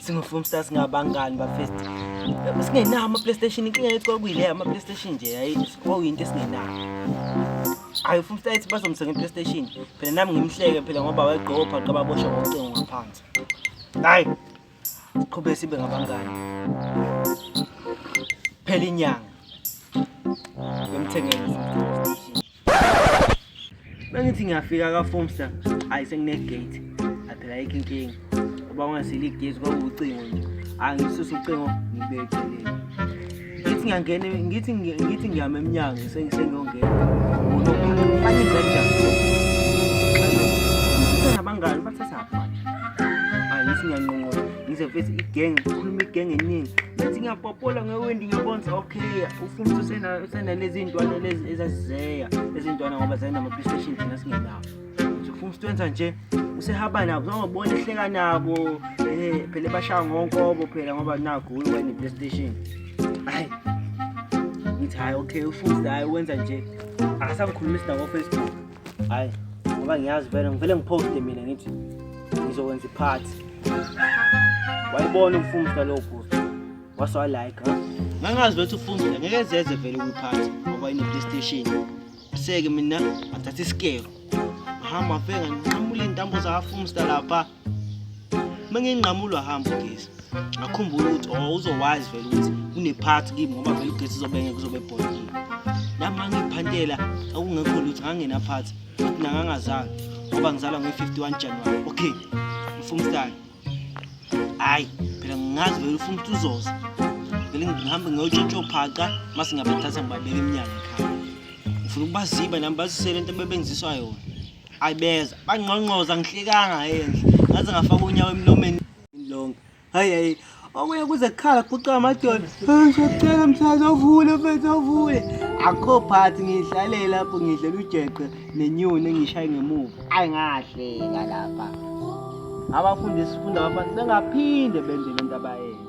singofumsta singabangani bafest singenawo ama-playstation inkinga yethu kwakuyileyo ama-playstation nje kwakuyinto esingenayo hayi ufumsta ethi bazomsenga i-playstation phela nami ngimhleke phela ngoba wayegqoka ubhaqa babosha ngocingo ngaphansi hayi siqhube sibe ngabangani phela inyanga yomthengeni Bengithi ngiyafika ka Fomster, hayi sengine gate. Aphela yikho inkinga. Uba ungasili igezi kwakucingo nje. Angisusa ucingo ngibekele. Ngithi ngiyangena ngithi ngithi ngiyama eminyango sengiyongena. Fani kanjani? Sithanda abangani bathatha apha. Angithi ngiyanqonqola. Ngize mfethu igenge, khuluma igenge eningi. Bethi ngiyapopola ngewendi ngiyabonza Hey, ufuna ukuthi usena usena lezi ntwana lezi ezazizeya lezi ntwana ngoba zayina ma PlayStation thina singenawo. Uthi ufuna ukuthi wenza nje usehaba nabo uzobona ehleka nabo eh phela bashaya ngonkobo phela ngoba nakho wena PlayStation. Hayi. Ngithi hayi okay ufuna hayi wenza nje. Akasangikhulumisi nabo Facebook. Hayi ngoba ngiyazi vele ngivele ngiposte mina ngithi ngizokwenza iphathi. Wayibona umfumsa lo bhuti. What's all like, huh? Ngangazi ukuthi ufungile ngeke zeze vele ukuphatha ngoba ine PlayStation. Seke mina ngathatha isikero. Ngihamba afika ngiqamule intambo zafumsta lapha. Mengingqamulwa hamba ugesi. Ngakhumbula ukuthi oh uzowazi vele ukuthi kunephathi kimi ngoba vele ugesi uzobenge kuzobe bhodini. Nami ngiphantela akungekho lutho ngangena phathi. Futhi nangangazali ngoba ngizalwa ngo-51 January. Okay. Mfumstani. hayi phela ngingazi vele ufuna ukuthi uzoza vele ngihambe ngiyotshontshophaqa uma singabathatha ngibabeke emnyango ekhaya ngifuna ukubaziba nami bazisele into ebebenziswa yona ayi beza bangqongqoza ngihlekanga endle ngaze ngafaka unyawo emlomeni lonke hayi hayi Okuye kuze kukhala kuqala amadolo. Ngicela mthazi ovule mfethu ovule. Akho phathi ngidlalela lapho ngidlela ujeqe nenyoni engishaye ngemuva. Ayi ngahleka lapha. Abafundi sifunda abafana bengaphinde benze lento abayenza.